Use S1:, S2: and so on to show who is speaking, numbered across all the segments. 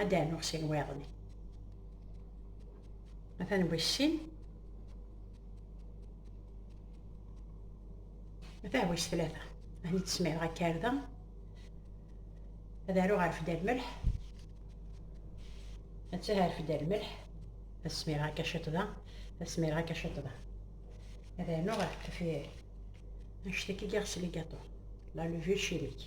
S1: ad d-rnuɣ sin wayeḍni atan wis sin atan wis tlata hani tesmireɣ akarda ad aruɣ rfed ar lmelḥ attah rfed ar lmelḥ ad smireɣ akka ciṭ da ad smireɣ akka ciṭ da ad rnuɣ rfed anect akka i ɣ-sligaṭu la levure chimique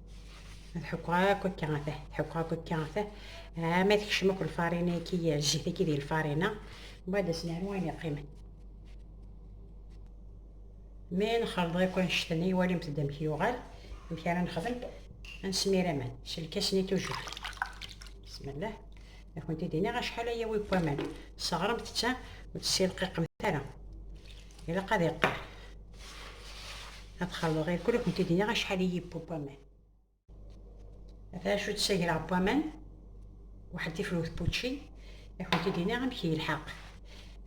S1: ad ḥukkeɣ akk akka ata ḥukkeɣ akk akka ata ah, ma tekcem akk lfarina ki zzit ki di lfarina mbagħad ad s-nernu ayen yeqqimen mi nxelḍ akk annect-nni walimt-d amek yuɣal amek ara nexdem ad nesmir aman s lkas-nni tujuh bismillah ad kent-id-iniɣ acḥal ay yawi n waman sseɣremt-tt ur tessilqiqemt ara Ilaq ad iqqar. Ad xalḍeɣ irkul ad kent-id-iniɣ acḥal i yewwi waman. Ata acu d-ssagreɣ n waman, waḥed tifrut n wučči, ad kent-id-iniɣ amek yelḥeq.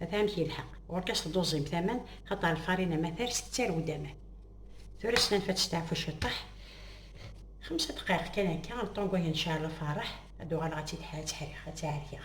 S1: Ata amek yelḥeq. Ɣur-k ad s-tduẓim taman, xaṭer lfarina ma ters tettarew-d aman. Tura s nanef ad testeɛfu ciṭṭaḥ, xemsa ddqayeq kan akka, lṭongu ad yenceɛ lferreḥ, ad uɣaleɣ ad tt-id-ḥereɣ, ad tt-ḥerkeɣ.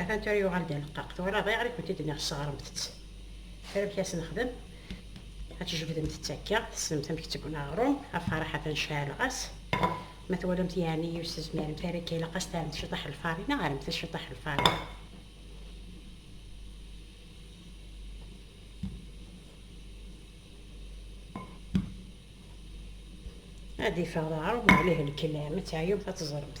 S1: Atan tura yuɣal-d aneqqaq. Tura bɣiɣ i kent-id nniɣ sseɣremt-tt. Tura amek as nexdem? Ad tjebdemt-tt akka, tessnemt amek tt-ggna aɣrum, afaraḥ atan ceɛleɣ-as. Ma twalamt yeɛni ur s-tezmiremt ara akka, ilaq-as taremt ciṭaḥ n lfarina, aremt-as ciṭaḥ n lfarina. Ad iffeɣ d aɣrum, ɛlihi lkelam, ad teɛyumt ad teẓremt.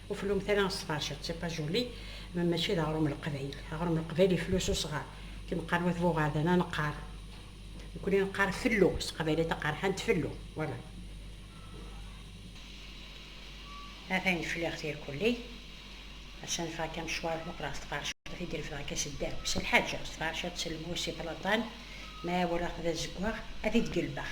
S1: Ur fellumt ara asṭac, d tipajuli, ma mačči d aɣrum n Leqbayel. Aɣrum n Leqbayel iflu s usɣar. Akken qqaren wat Buɣadan, ad neqqar, nekkni neqqar fellu, s teqbaylit aqerḥant fellu, wala. Ata in fliɣ tirkulli, ass-a neffeɣ akka amecwar, muqleɣ s tqercert i d-irefdeɣ akka s ddheb, s lḥaǧa, s tqercert, s lmus, si ṭlaṭan, ma walaɣ-t d azeggaɣ, ad t-id-gelbeɣ.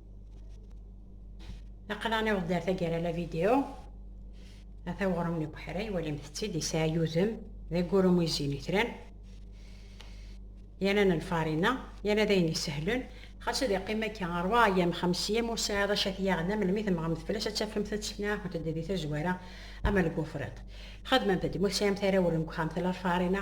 S1: Aql-aɣ niweḍ ar taggara la vidéo. Ata uɣrum n ubeḥri, walimt-tt-id, yesɛa yudem, d agurum izzin itran. Yal n lfarina, yal ad ayen isehlen. Xas ad iqqim akka ṛebɛ ayyam, xems ayyam ur sɛiḍ acu ad t-yaɣen, am lmi temmɣemt fell-as ad tafemt ad tesnaɛfemt-d di tazwara ama deg ufriṭ. Xedmemt-d, ma ur tesɛimt ara awren deg uxxam tella lfarina,